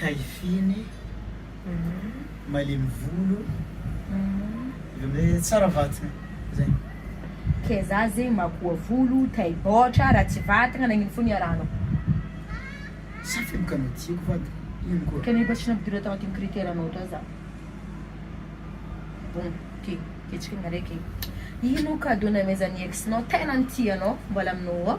taifiny malemy volo tsara vatana zay ke za zegny makoa volo taibaotra raha tsy vatagna nagnino fo niarahanao sa fibokanao tsy haiko fa ino koa kene mba tsy nampidira tao anatin'ny critère nao tao za bon ty ketsika ny araiky ino cadeau namezan'ny ex nao tena nitia anao mbola aminao ao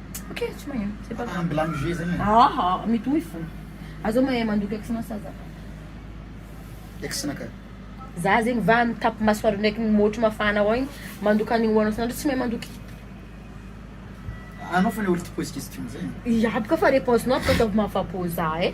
Ok, tsy mahay. C'est pas grave. Mbola mijoue zany. Ah ah, mitohy fona. Aza mahay mandoky ex-na sa za. Ex-na ka. Za zegny va mitapy masoandro ndraiky ny môtro mafana ao igny mandoky an'igny hoanao san'andro tsy mahay mandoky. Anao fona olo tia pose question zay. Iaby ka fa reponse-nao ataovy mahafa-po za eh.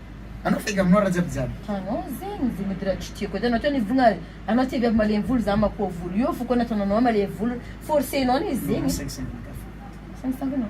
Anao faiga aminao raha jiaby jiaby. Anao zegny ze mody raha tsy tiako ataonao atao ny vogna ary anao tsy viavy malemy volo za makoa volo io foko nataonao anao malemy volo forcenao anie zegny. Saingy saingy anao.